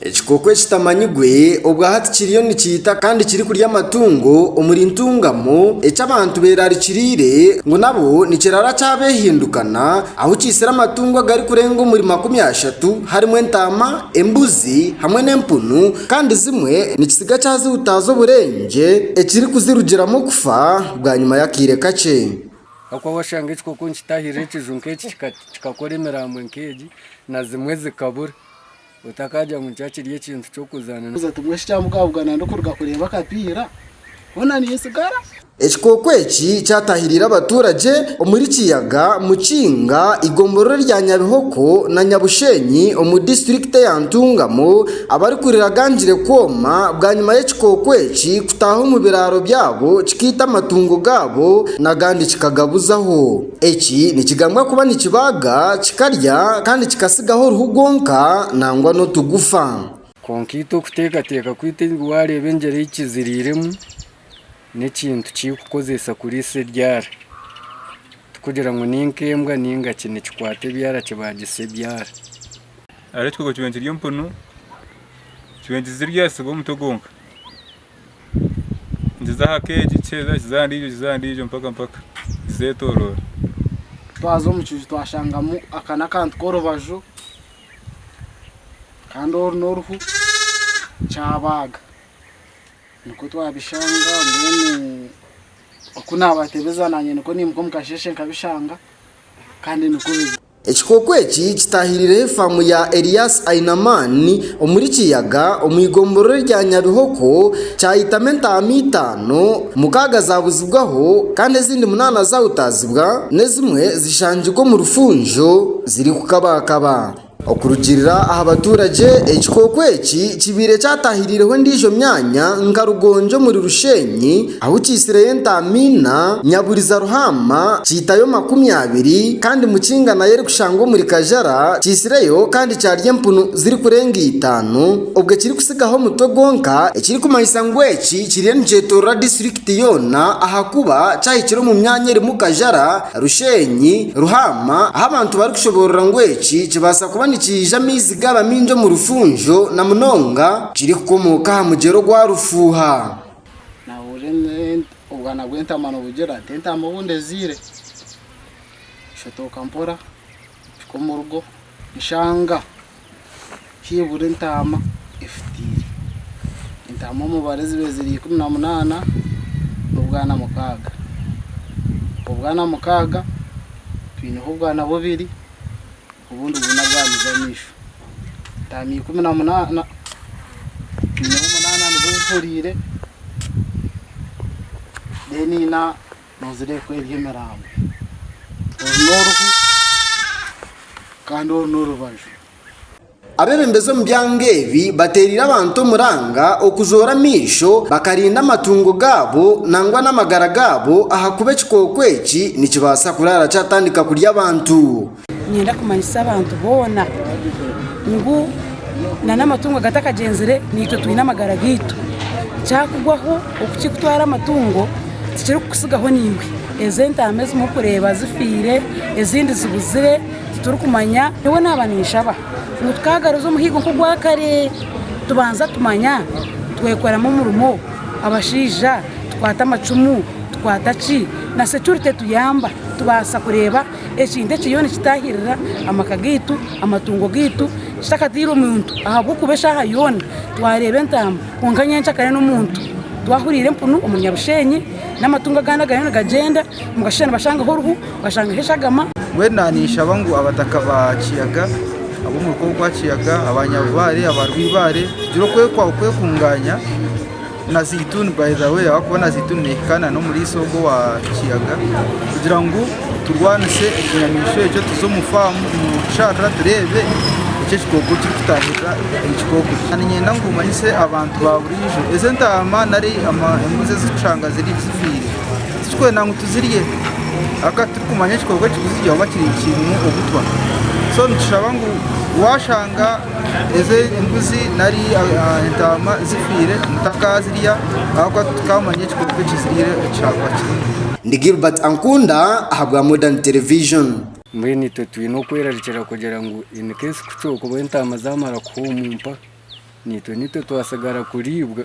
Ekikooko ekitamanyirwe obwa hati kiriyo nikiita kandi kirikurya amatungo omuri Ntungamo eki abantu beerarikiriire ngu nabo nikirara kyabehindukana ahu kiitsire amatungo agarikurenga omuri makumi ashatu harimu entaama, embuzi hamwe n'empunu kandi zimwe nikitsiga kyazihutaaza oburengye ekirikuzirugiramu okufa bwanyima y'akaire kakye. Ahakuba washanga ekikooko nikitahirira ekiju nk'eki kikakora emirambo nk'egi na zimwe zikabura. otakagira ngu nikyo kiri ekintu ky'okuzaana nawe. Timwe shi kyamukabugana ndikuruga kureeba akapiira hoona nintsigara? Ekikooko eki kyatahiriire abaturage omuri Kiyaga, Mukinga, eigombororo rya Nyabihoko na Nyabushenyi omu disiturikiti ya Ntungamo abarikuriraganjire kwoma bwanyima y'ekikooko eki kutaaha omu biraaro byabo kikaita amatungo gaabo nagandi kikagabuzaho. Eki nikigambwa kuba nikibaaga, kikarya kandi kikatsigaho oruhu gwonka nangwa n'otugufa. Kwonka itwe okuteekateeka kwaitu ngu waareeba engyera ei kiziriiremu, n'ekintu ki orikukoresa kuriisa ebyara. Tikugira ngu ni nk'embwa nainga ki, nikikwata ebyara kibaagisa ebyara. Hariho ekikooko kiba nikirya empunu, kiba nikizirya, siba omutwe gwonka. Nikiza aha keegi kikiza aha ndiijo kikiza aha ndiijo mpaka mpaka nizetoroora. Twaza omu kiju twashangamu aka n'akantu k'orubaju kandi oru n'oruhu kyabaaga. Nikwo twabishanga mbwenu oku naabatebeza naanye nikwo naimuka omu kasheeshe nkabishanga kandi nikwo biri. Ekikooko eki kitaahirireho efaamu ya Elias Ainaman omuri Kiyaga omu igomborora erya Nyabihoko, kyayitamu entaama itaano, mukaaga zaabuzibwaho kandi ezindi munaana zaahutaazibwa n'ezimwe zishangirwa omu rufunjo zirikukabaakaba. Okurugiirira aha baturage, ekikooko eki kibaire kyataahirireho endiijo myanya nka Rugongi omuri Rusheenyi, Ahu kiitsireyo entaama ina, nyaburiza ruhaama, kiitayo makumi abiri, kandi mukinga nayo erikushangwa omuri kajara, kiitsireyo kandi kyarya empunu zirikurenga itaano, obwo ekirikutsigaho omutwe gwonka, ekirikumanyisa ngu eki kiriyo nikyetoorora disiturikiti yoona ahakuba kyahikire omu myanya erimu kajara, rusheenyi, ruhaama, ahu abantu barikushoboorora ngu eki kibaasa kuba nikiija amaizi gaaba maingi omu rufunjo, na munonga kirikukomooka aha mugyera ogwa Rufuuha. Naahurira obwana bw'entaama nibugira nti, Entaama obu ndeziire! Nshotooka mpora mpika omu rugo nshanga haibura entaama efutiire. Entaama omubare zibaire ziri ikumi na munaana n'obwana mukaaga. Obwo bwana mukaaga, twineho obwana bubiri. obundi bwine bwamize amaisho. Entaama ikumi na munaana, nyineho munaana nizo zitoreire, then ina nozireeba ku eri emirambo. Oru n'oruhu kandi oru n'orubaju. Abebembezi omu byanga ebi bateereire abantu omuranga okuzoora amaisho bakarinda amatungo gaabo nangwa n'amagara gaabo ahakuba ekikooko eki nikibaasa kuraara kyatandika kurya abantu. Niinyenda kumanyisa abantu boona ngu n'amatungo agatakagyenzire naitwe twine amagara gaitu. Kyakugwaho okukikutwara amatungo tikirikukutsigaho naiwe. Ezo entaama ezi murikureeba zifiire, ezindi zibuzire titurikumanya. Nyowe naaba ninshaba ngu twagaruza omuhigo nk'ogwa kare tubanza tumanya twekoramu omurimo, abashaija tukwate amacumu, tukwate ki na securite etuyamba tubaasa kureeba. ekintu ekiriyo nikitahirira amaka gaitu, amatungo gaitu kitakatairwe muntu ahabw'okuba eshaaha yoona twareeba entaama kwonka nyenkya kare n'omuntu twahuriire empunu omuri Nyabusheenyi n'amatungo agandi agariyo nigagyenda nibashuusha nibashangaho oruhu bashangaho eshagama. Mbwenu naanishaba ngu abataka ba Kiyaga, ab'omuruka ogwa Kiyaga, aba Nyabubaare, aba Rwibaare tugire okwekungaanya. Na zaituni by the way ahakuba na zaituni nehikaana n'omuri iso ogwo wa kiyaga kugira ngu turwanise ekinyamaishwa ekyo tuze omu faamu omu kisharara tureebe eki ekikooko kirikutaahirira ekikooko eki. Kandi niinyenda ngu manyise abantu ba buriijo ezi entaama nari embuzi ezi tushanga ziri zifiire titurikwenda ngu tuzirye ahaka titurikumanya ekikooko ekirikuzirya oba kirimu obutwa so nitushaba ngu waashanga Ezo embuzi nari entaama zifiire mutakaazirya ahabw'okuba titukaamanya ekikooko ekiziriire eki kyakuba kirimu. Ndi Gilbert Ankunda ahabwa Modern Television. Mbwenu itwe twine okwerarikira kugira ngu in case ku kyokuba entaama zaamara kuhuumumpa, naitwe naitwe twatsigara kuriibwa.